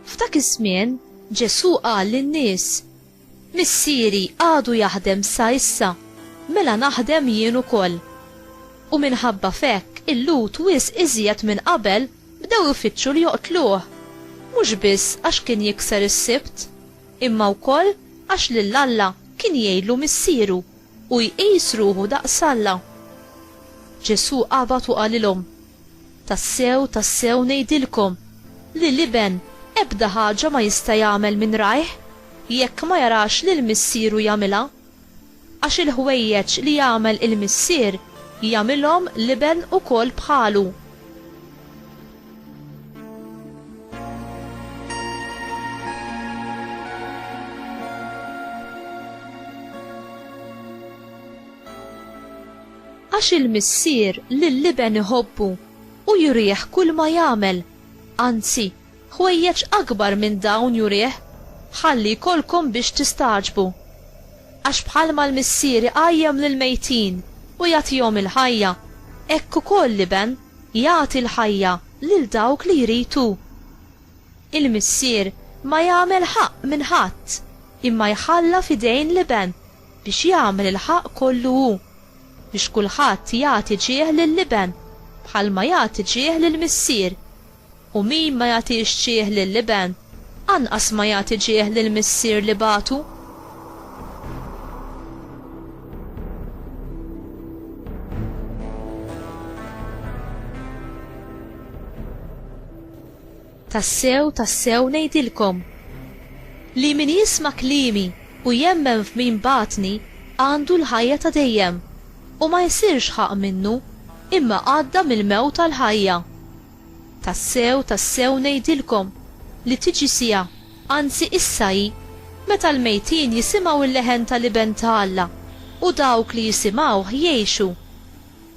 F'dak iż-żmien Ġesù qal lin-nies, Missieri għadu jaħdem sa issa, mela naħdem jien ukoll. U minħabba f'hekk il-Lut wisq iżjed minn qabel Bdew ifittxu li joqtluh, mhux biss għax kien jikser is-Sibt, imma wkoll għax lil Alla kien jgħidlu Missieru u jqis ruħu daqs Alla. Ġesù qabad u qalilhom, Tassew, tassew ngħidilkom, li l-Iben ebda ħaġa ma jista' jagħmel minn rajh, jekk ma jarax lil Missieru jagħmilha. Għax il-ħwejjeġ li jagħmel il-Missier, jagħmilhom l-Iben ukoll bħalu. Għax il-Missier lill-Iben iħobbu, u jurih kulma jagħmel, anzi, Ħwejjeġ akbar minn dawn jurih, ħalli jkollkom biex tistagħġbu. Għax bħalma l-Missier iqajjem lill-mejtin u jagħtihom il-ħajja, hekk ukoll l-Iben jagħti l-ħajja lil dawk li jrid hu. Il-Missier ma jagħmel ħaqq minn ħadd, imma jħalla f'idejn l-Iben biex jagħmel il-ħaqq kollu hu, biex kulħadd jagħti ġieħ lill-Iben bħalma jagħti ġieħ lill-Missier. U min ma jagħtix ġieħ lill-Iben, anqas ma jagħti ġieħ lill-Missier li bagħtu. Tassew, tassew ngħidilkom li min jisma' kliemi u jemmen f'min bagħatni għandu l-ħajja ta' dejjem u ma jsirx ħaqq minnu, imma għadda mill-mewt għall-ħajja. Tassew, tassew ngħidilkom, li tiġi siegħa, anzi issa hi, meta l-mejtin jisimgħu l-leħen tal-Iben ta' Alla, u dawk li jisimgħuh jgħixu.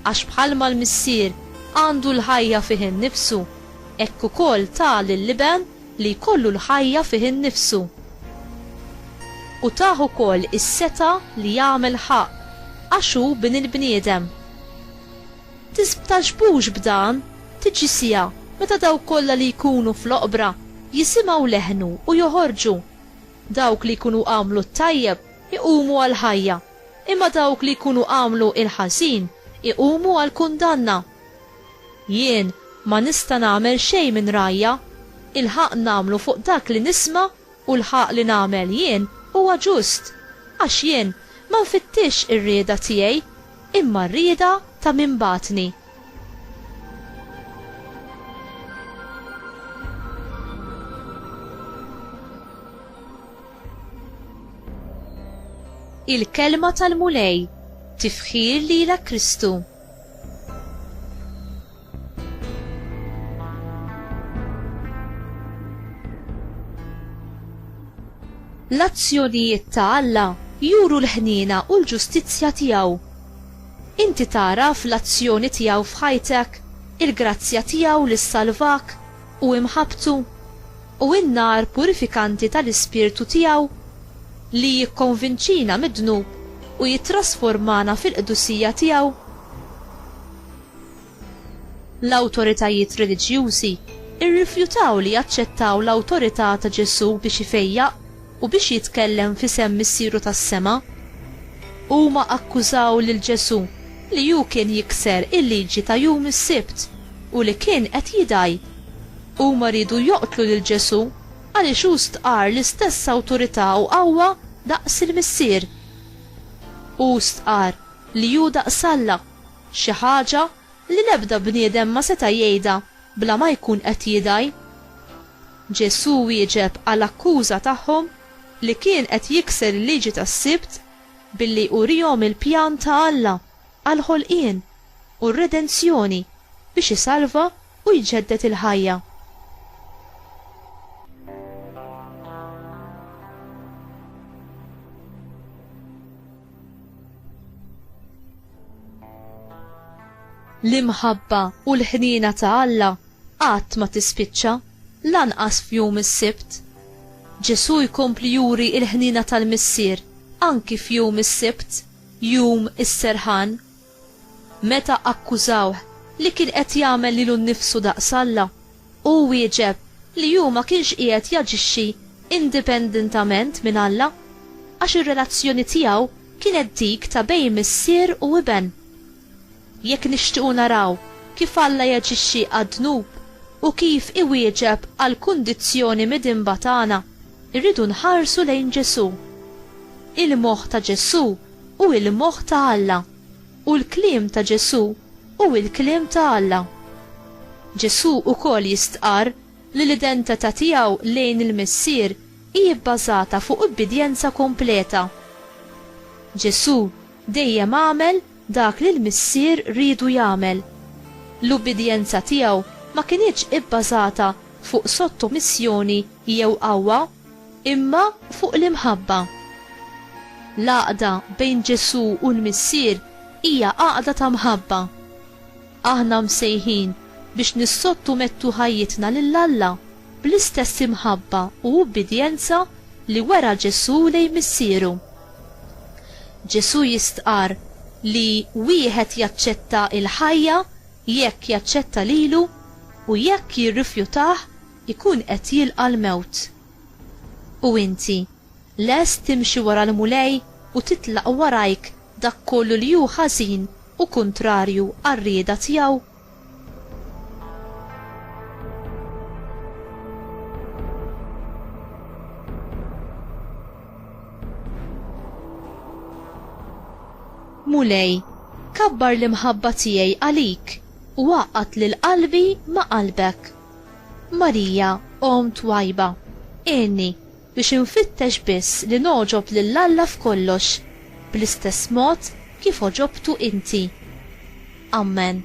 Għax bħalma l-Missier għandu l-ħajja fih innifsu, hekk ukoll ta lill-Iben li jkollu l-ħajja fih innifsu. U tah ukoll is-setgħa li jagħmel ħaqq, għax hu bin il-bniedem. Tisbtaxbux b'dan, tiġi siegħa meta dawk kollha li jkunu fl-oqbra jisimgħu leħnu u joħorġu. Dawk li jkunu għamlu t-tajjeb iqumu għall-ħajja, imma dawk li jkunu għamlu l-ħażin iqumu għall-kundanna. Jien ma nista' nagħmel xejn minn rajja, ilħaqt nagħmlu fuq dak li nisma' U l-ħaqq li nagħmel jien huwa ġust, għax jien ma nfittixx ir-rieda tiegħi, imma r-rieda ta' min bagħatni. Il-Kelma tal-Mulej, Tifħir lilek Kristu. L-azzjonijiet ta' Alla juru l-ħniena u l-ġustizzja tiegħu. Inti tagħraf l-azzjoni tiegħu f'ħajtek, il-grazzja tiegħu li ssalvak, u imħabbtu, u n-nar purifikanti tal-Ispirtu tiegħu, li jikkonvinċina mid-dnub u jittrasformana fil-qdusija tiegħu. L-awtoritajiet reliġjużi rrifjutaw li jaċċettaw l-awtorità ta' Ġesù biex ifejjaq. u biex jitkellem f'isem Missieru tas-sema. Huma akkużaw lil Ġesù li hu kien jikser il-liġi ta' jum is-Sibt u li kien qed jidgħi. Huma riedu joqtlu lil Ġesù għaliex hu stqarr l-istess awtorità u qawwa daqs il-Missier. Hu stqarr li hu daqs Alla, xi ħaġa li l-ebda bniedem ma seta' jgħidha bla ma jkun qed jidgħi. Ġesù wieġeb għal akkuża tagħhom li kien qed jikser il-liġi tas-Sibt billi urihom il-pjan ta' Alla għall-ħolqien u r-redenzjoni biex isalva u jġedded il-ħajja. L-imħabba u l-ħniena ta' Alla qatt ma tispiċċa, lanqas f'jum is-Sibt. Ġesù jkompli juri l-ħniena tal-Missier anki f'jum is-Sibt, Jum is-Serħan. Meta akkużawh li kien qed jagħmel lilu nnifsu daqs Alla, hu wieġeb li hu ma kienx qiegħed jaġixxi indipendentament minn Alla, għax ir-relazzjoni tiegħu kienet dik ta' bejn Missier u Iben. Jekk nixtiequ naraw kif Alla jaġixxi għad-dnub u kif iwieġeb għall-kundizzjoni midinba tagħna, irridu nħarsu lejn Ġesù. Il-moħħ ta' Ġesù hu l-moħħ ta' Alla, u l-kliem ta' Ġesù hu l-kliem ta' Alla. Ġesù wkoll jistqarr li l-identità tiegħu lejn il-Missier hi bbażata fuq ubbidjenza kompleta. Ġesù dejjem għamel dak li l-Missier riedu jagħmel. L-ubbidjenza tiegħu ma kinitx ibbażata fuq sottomissjoni jew qawwa, imma fuq l-imħabba. L-għaqda bejn Ġesù u l-Missier hija għaqda ta' mħabba. Aħna msejħin biex nissottumettu ħajjitna lil Alla. bl-istess imħabba u ubbidjenza li wera Ġesù lejn Missieru. Ġesù jistqarr li wieħed jaċċetta l-ħajja jekk jaċċetta lilu u jekk jirrifjutah ikun qed jilqa' l-mewt. U inti, lest timxi wara l-Mulej u titlaq warajk dak kollu li hu ħażin u kuntrarju għar-rieda tiegħu? Mulej, kabbar l-imħabba tiegħi għalik u għaqqat lil qalbi ma' qalbek. Marija, Om twajba, għenni biex infittex biss li nogħġob lil Alla f'kollox, bl-istess mod kif għoġobtu inti. Ammen.